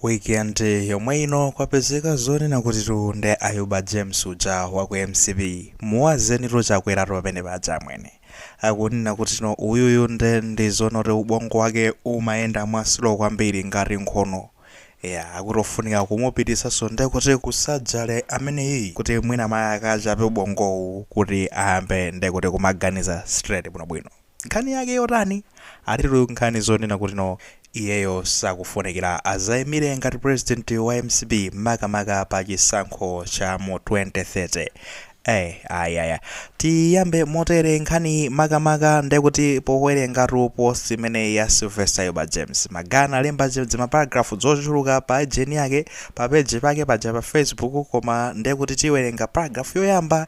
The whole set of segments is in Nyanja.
Weekend yomwe ino kwapezeka zonena kuti tu nde Ayuba James uja wa ku mcp muwazeni tu Chakwera tu pamene paja amwene akunena kuti no uyuyu nde ndi zonoti ubongo wake umayenda mwa slow kwambiri ngati nkhono eya akuti ofunika kumupititsanso nde kuti ku surgery ameneyiyi kuti mwina mayi akachape ubongowu kuti ayambe nde kuti kumaganiza straight bwinobwino. Nkhani yake yotani? Akutitu nkhani zonena kuti no iyeyo sakufunikila azaimile ngati president wa mcp makamaka pa chisankho cha mu 2030 ai ai ai tiyiyambe motele nkhaniyi makamaka ndekuti powelengatu post imeneyi ya Sylvester Ayuba James maka analemba dzimaparagraph dzochuluka pa ijeni yake pa page pake paja pa facebook koma ndekuti tiwelenga paragraph yoyamba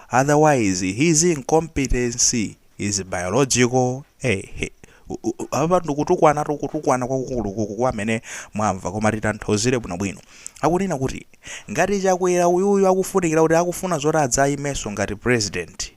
otherwise his incompetency is biological eehe apa ndikutukwanatu kutukwana kwakukulukulu kwa amene mwamva koma titanthauzire bwinobwino akunena kuti ngati chakwera uyuyu akufunikira kuti akufuna zoti adzayimenso ngati president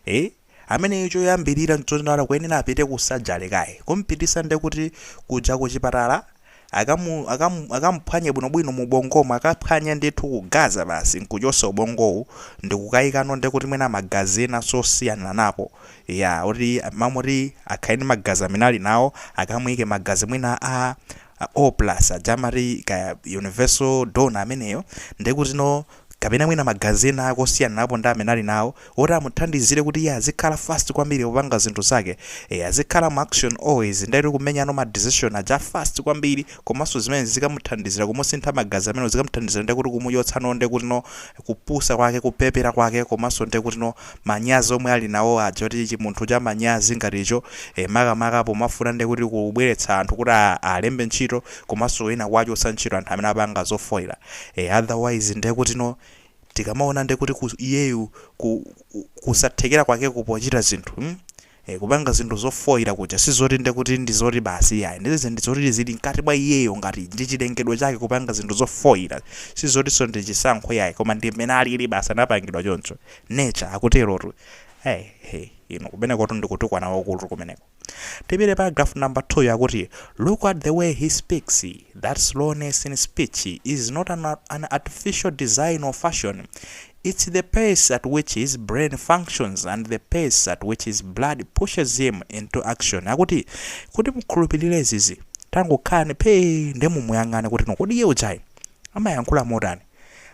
e ameneyo choyambirira nchoti akuyenera apite ku surgery kaye kumpititsa ndekuti kuja kuchipatala akamu akamu akamuphwanye bwinobwino muubongomo akaphwanye ndithu kugaza basi nkuchotsa ubongowu ndikukayikano nde kuti mwina magazi ena osiyaniranapo ya kuti mamoti akhale ndi magazi amene ali nawo akamuyike magazi mwina a a o plus aja amati kaya universal donor ameneyo nde kutino kapena mwina magazi ena ake osiyaniranapo ndi amene ali nawo, oti amuthandizire kuti iye azikhala fast kwambiri popanga zinthu zake, ee, azikhala mu action always, nde kuti kumenyano ma decision aja a fast kwambiri, komanso zimenezi zikamuthandizira kumusintha magazi amenewo, zikamuthandizira ndiye kuti kumuchotsano ndiye kutino kupusa kwake, kupepera kwake, komanso ndiye kutino manyazi omwe ali nawo aja oti chimunthu cha manyazi ngati icho, ee, makamaka pomafuna ndiye kuti kubweretsa anthu kuti a, alembe ntchito, komanso ena kuwachotsa ntchito anthu amene apanga zofoira. Eh otherwise ndekutino tikamaona ndekuti ku iyeyu ku ku- kusathekera kwake kopochita zinthu mm? Eh, kupanga zinthu zofoira kuja sizoti ndekuti ndizoti basi iyayi ndizi ndizoti zili mkati mwa iyeyo ngati ndi chilengedwe chake kupanga zinthu zofoira sizotinso ndi chisankho iyayi koma ndi mmene alili basi anapangidwa choncho nature akuterotu hey, hey, inu kumenekotu ndikutukwana kwakukulu kumeneko Tipite paragraph number 2 akuti look at the way he speaks that slowness in speech is not an, an artificial design or fashion it's the pace at which his brain functions and the pace at which his blood pushes him into action akuti kuti mukhulupirire izizi tangokhalani phee nde mumuyang'ane kuti no kodi iye ujayi amayankhula motani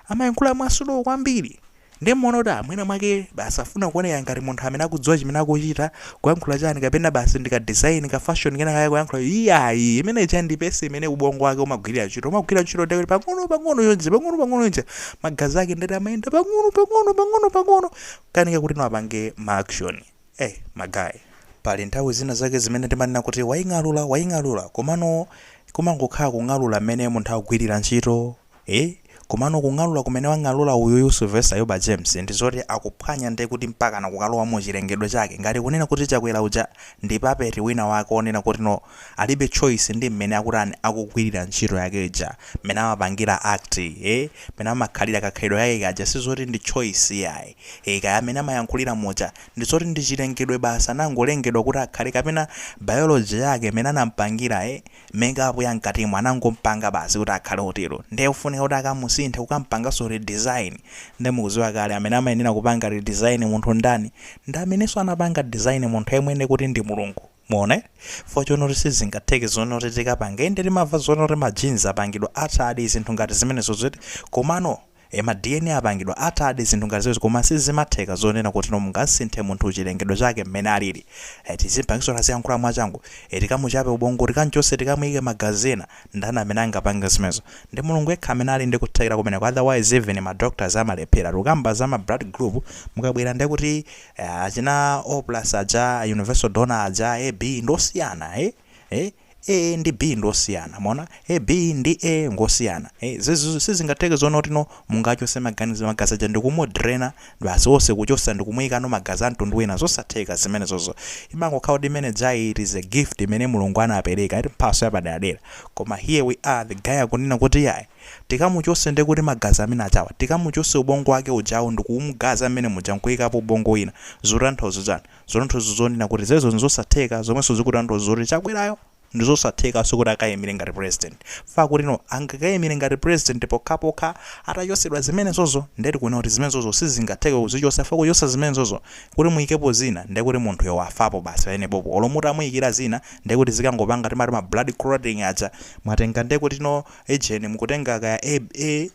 amayankhula mwasuluwu kwambiri nde muona kuti mwina mwake basi afuna kuoneka ngati munthu amene akudziwa chimene akuchita kuyankhula chani kapena basi ndika design ka fashion kena kakayankhula iyayi imene ija ndi pace imene ubongo wake umagwirira ntchito umagwirira ntchito ndekuti pang'ono pang'ono yonse pang'ono pang'ono yonse magazi ake ndati amayenda pang'ono pang'ono pang'ono pang'ono akanika kuti apange ma action eh magayi pali nthawi zina zake zimene timanena kuti waying'alula waying'alula komano kumangokhala kung'alula mmene munthu akugwirira ntchito ee komano kung'alula kumene wang'alula uyuyu Sylvester Ayuba James ndi zoti akuphwanya nde kuti mpakana kukalowa mu chilengedwe chake ngati kunena kuti Chakwera uja ndi puppet wina wake wonena kuti no alibe choice ndi mmene akutani akugwilira ntchito yake ija mmene amapangira act ee mmene amakhalira kakhalidwe kake kaja sizoti ndi choice iyayi ee kaya mmene amayankhulira muja ndi zoti ndi chilengedwe basi anangolengedwa kuti akhale kapena biology yake mmene anampangira ee Makeup ya mkatimo anangompanga basi kuti akhale otero nde ofunika kuti akamusinthe kukampanganso redesign nde mukuziwa kale amene amayenera kupanga redesign munthu ndani ndi amenenso anapanga design munthu yemwe nde kuti ndi Mulungu muona eti fukwa chonena kuti sizingatheke zonena kuti tikapange inde timamva zonena kuti ma genes apangidwa altered zinthu ngati zimenezozo eti komano e Ma dna apangidwa altered zinthu ngati zimenezo koma sizimatheka zonena kuti no mungamsinthe munthu chilengedwe chake mmene alili e Tizimpangitsa aziyankhula mwachangu e Tikamuchape ubongo, tikamchotse, tikamuike magazi ena Ndani amene angapange zimenezo? Ndi Mulungu yekha amene ali ndi kuthekera kumeneko otherwise even ma doctors amalephera Tikukamba za ma blood group mukabwera ndekuti achina O plus aja, universal donor aja, AB ndi osiyana e. e A ndi B ndi osiyana mwaona e B ndi A ngosiyana e zizizo sizingatheke zonena kuti no mungachose maganizo magazi aja ndikumudrena basi onse kuchosa ndikumuyikano magazi amtundu wina zosatheka zimenezozo imangokhala kuti imenejayi it is a gift imene mulungu anapereka eti mphaso yapaderadera koma here we are the guy akunena kuti yayi tikamuchose ndekuti magazi amene ajawa tikamuchose ubongo wake ujawo ndikumgaza mmene muja nkuyikapo ubongo wina zutanthauza chani Zutanthauza zonena kuti zimenezo nzosatheka zomwenso zikutanthauza zoti Chakwerayo ndizosathekanso kuti akaimire ngati president. Fukwa kuti no, angakaimire ngati president pokhapokha atachotsedwa zimenezozo nde tikunena kuti zimenezozo sizingatheke kuzichotsa chifukwa kuchotsa zimenezozo kuti muikepo zina ndekuti munthuyo wafapo basi pamenepopo olo mutamuikira zina ndekuti zikangopanga timati ma blood clotting aja mwatenga ndekuti no ejeni mukutenga kaya A, A,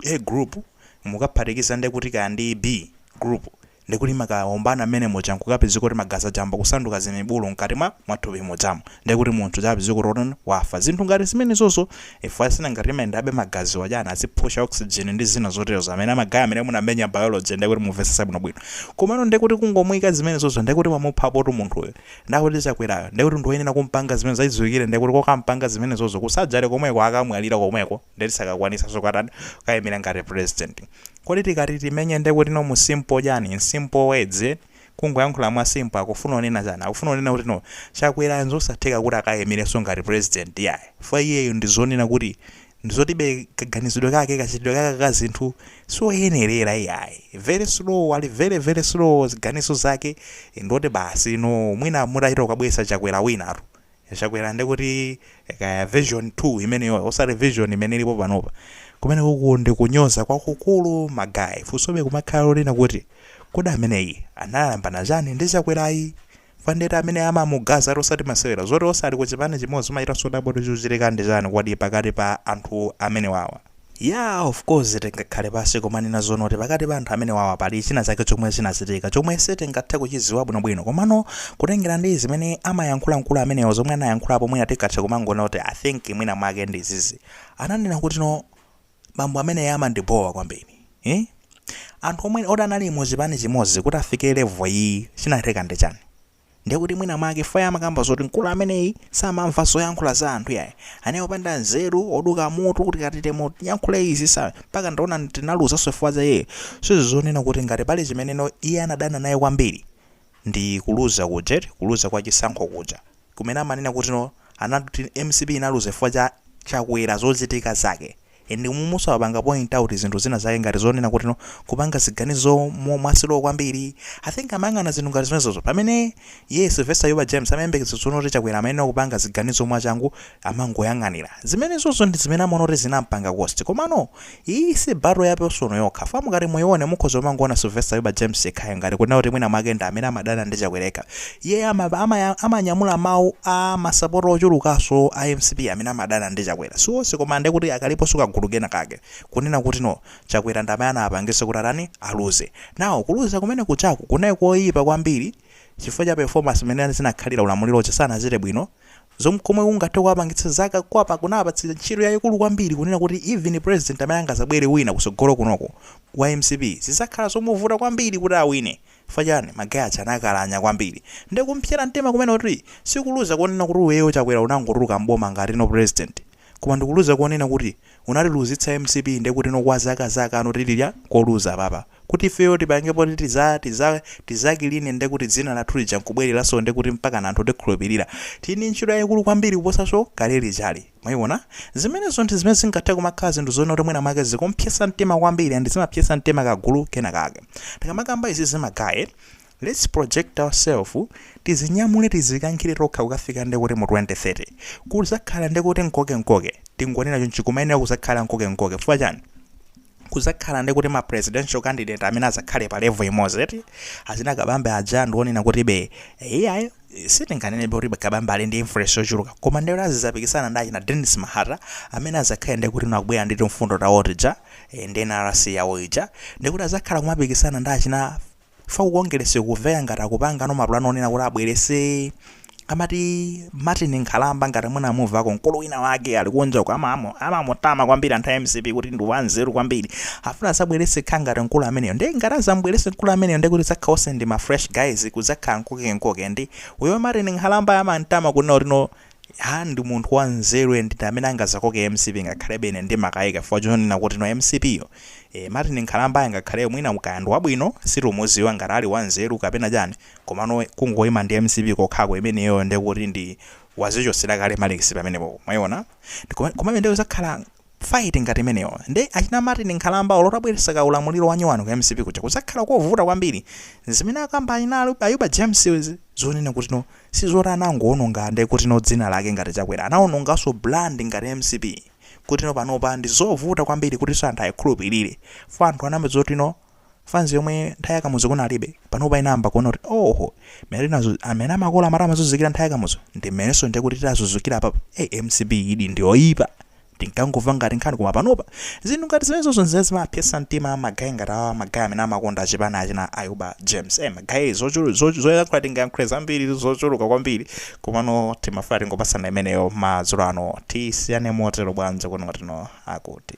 A group mukaphatikiza ndekuti kaya ndi B group ndi kuti imakawombana mmene muja nkukapezeka kuti magazi aja ayamba kusanduka zimibulu mkati mwa mwa thupi mujamu ndiye kuti munthu uja apezeka kuti otani wafa zinthu ngati zimenezozo fukwa zija ngati amayendabe magazi aja chani azipusha oxygen ndi zina zoterozo amene magayi amene munamenya biology ndiye kuti mumvesesa bwinobwino komano ndiye kuti kungomuyika zimenezozo ndiye kuti wamuphapotu munthuyo ndiye kuti chakwerayo ndiye kuti ndiwoyenera kumpanga zimene zachidziwikire ndiye kuti kokampanga zimenezozo ku surgery komweko akamwalira komweko ndeti sakakwanisa zokatani kukayimira ngati president kodi tikati timenye ndekuti no mu simple chani in simple words eti kungoyankhula mwa simple akufuna kunena chani akufuna kunena kuti no chakwera nzosatheka kuti akayimireso ngati president yayi fukwa iyeyo ndi zonena kuti ndizotibe kaganizidwe kake kachitidwe kake ka zinthu sioyenerera iyayi very slow ali very very slow ziganizo zake ndoti basi no mwina mutachita kukabweza chakwera winatu Chakwera nde kuti kaya version 2 imeneyoyo osati version imene ilipo panopa. Kumenekuku ndi kunyoza kwakukulu ma guys. Funsobe kumakhala lonena kuti kodi ameneyi anayambana chani ndi Chakwerayi? Chifukwa nde ndi amene amamugazatu osati masewera. Zoti onse ali ku chipani chimodzi umachitanso kudabwa kuti chikuchitika ndi chani kodi pakati pa anthu amene awawa. Yaa of course tingakhale pasi kumanena zonena kuti pakati pa anthu amenewawa pali china chake chomwe chinachitika chomwe sitingathe kuchiziwa bwino bwino komano kutengera ndi zimene amayankhula mkulu amenewo zomwe anayankhulapo mwina tingathe kumangonena kuti I think mwina mwake ndi izizi ananena kuti no bambo ameneyo amandibowa kwambiri eh? anthu omwewo ti anali mu chipani chimodzi kuti afike level iyi chinatheka ndi chani Ndiye kuti mwina mwake paja amakamba zoti mkulu ameneyi samamva zoyankhula za anthu yayi. Anali opanda nzeru, oduka mutu kuti tikati timuyankhule izi sa mpaka ndaona tinaluzaso chifukwa za iyeyo. Sizi zonena kuti ngati pali chimene no iye anadana naye kwambiri ndi kuluza kuja eti, kuluza kwa chisankho kuja. Kumene amanena kuti no anati mcp inaluza chifukwa cha Chakwera zochitika zake. And umuso apanga point out zinthu zina zake ngati zonena kuti no kupanga ziganizo mo- mwa slow kwambiri i think amayang'ana zinthu ngati zimenezozo pamene ye sylvester ayuba james amayembekeza zonena kuti chakwera amayenera kupanga ziganizo mwachangu amangoyang'anira zimenezozo ndi zimene amaona kuti zinampanga cost komano iyi si battle ya personal yokha fam ngati muyione mukhoza kumangoona sylvester ayuba james yekhayo ngati kunena kuti mwina mwake ndi amene amadana ndi chakwera yekha Iyeyo ama ama amanyamula mau a masapota ochulukaso a mcp amene amadana ndi Chakwera si onse koma ndekuti akaliposo kagulu kena kake kunena kuti no Chakwera ndamene anawapangisa kuti atani aluze now kuluza kumene kujaku kunali koyipa kwambiri chifukwa cha performance mene zinakhalira ulamuliro uja sanachite bwino zom komwe kungathe kuwapangitsa zaka kuwapa kunawapatsa ntchito yayikulu kwambiri kunena kuti even president amene angazabwere wina kusogolo kuno wa mcp zizakhala zomuvuta kwambiri kuti awine Chifukwa chani? Ma guys aja anakalanya kwambiri. Nde kumpsera mtima kumene kuti? Si kuluza konena kuti iweyo Chakwera unangotuluka m'boma ngati no president. Koma ndi kuluza konena kuti unatiluzitsa mcp ndekuti no kwa zakazaka no tilira koluza apapa. Kuti ifeyo tipange poti tiza tiza tizakline ndekuti dzina lathu lija nkubwereranso ndekuti mpakana anthu atikhulupirira. Tili ndi ntchito yaikulu kwambiri kuposanso kale lijalo. Mwayiwona? Zimenezo ndi zimene zingathe kumakhala zinthu zonena kuti mwina mwake zikumpsyetsa mtima kwambiri and zimapsyetsa mtima kagulu kena kake. Tikamakamba izizi ma guy, let's project ourself, tidzinyamule tidzikankhire tokha kukafika nde kuti mu 2030, kudzakhala nde kuti mkoke mkoke, tingonena chonchi kumayenera kudzakhala mkoke mkoke, chifukwa chani? kudzakhala nde kuti ma presidential candidate amene adzakhale pa level imodzi eti, achina Kabambe aja ndi onena kuti be, iyayi, sitinganenebe kuti Kabambe ali ndi influence yochuluka koma ndekuti azizapikisana ndi achina Denis Mahata amene azakhale ndekuti no akubwera ndi timfundo tawo tija eh, ndi NRC yawo ija ndekuti azakhala kumapikisana ndi achina fo ku Congress kumveka ngati akupanga no mapulani onena kuti abwerese amati Martin Nkhalamba ngati mwina mwamumvako mkulu wina wake ali kunja uko amamu- amamutama kwambiri anthu a MCP kuti ndi wanzeru kwambiri afuna azabwerese khangati nkulu ameneyo nde ngati azambwerese nkulu ameneyo ndekuti azakha ose ndi ma fresh guys kuzakha nkoke nkoke ndi uyo martin nkhalamba amantama kunena kuti no ha ndi munthu wa nzeru and ndi amene angazakoke mcp ngakhalebe ine ndimakayika chifukwa chonena kuti no mcp yo e, martin nkhalamba angakhaleyo mwina nkukhaladi wabwino situmuziwa ngati ali wa nzeru kapena chani komano kungoyima ndi mcp kokhako imeneyo ndekuti wazichosera kale malikisi pamenepo mwayiona komabe ndekuti zakhala fight ngati imeneyo nde achina Martin nkhalamba olo utabweresa ka ulamuliro wanyowani ka mcp kuja kuzakhala kovuta kwambiri zimene akamba achina Ayuba James zonena kutino sizoti anangowononga nde kutino dzina lake ngati chakwera anawonongaso brand ngati mcp kutino panopa ndizovuta kwambiri kutiso anthu ayikhulupirire fo anthu anamva zotino fans yomwe nthawi ya kamuzu kunalibe panopa inayamba kuona kuti oho mmene tinazu- amene makolo amati amazuzikira nthawi ya kamuzu ndi mmenenso ndiye kuti tazuzikira papa hey, mcp idi ndiyoyipa tinkangomva ngati nkhani koma panopa zinthu ngati zimenezozo nzimene zimapyesa mtima magayi ngati awa magayi amene amakonda achipani achina ayuba james hey, magayi zochulu- zochu- zoyankhula tingayankhule zambiri zochuluka kwambiri komano timafuna tingopasana imeneyo madzulo ano tisiyane motero bwanji kuno tino akuti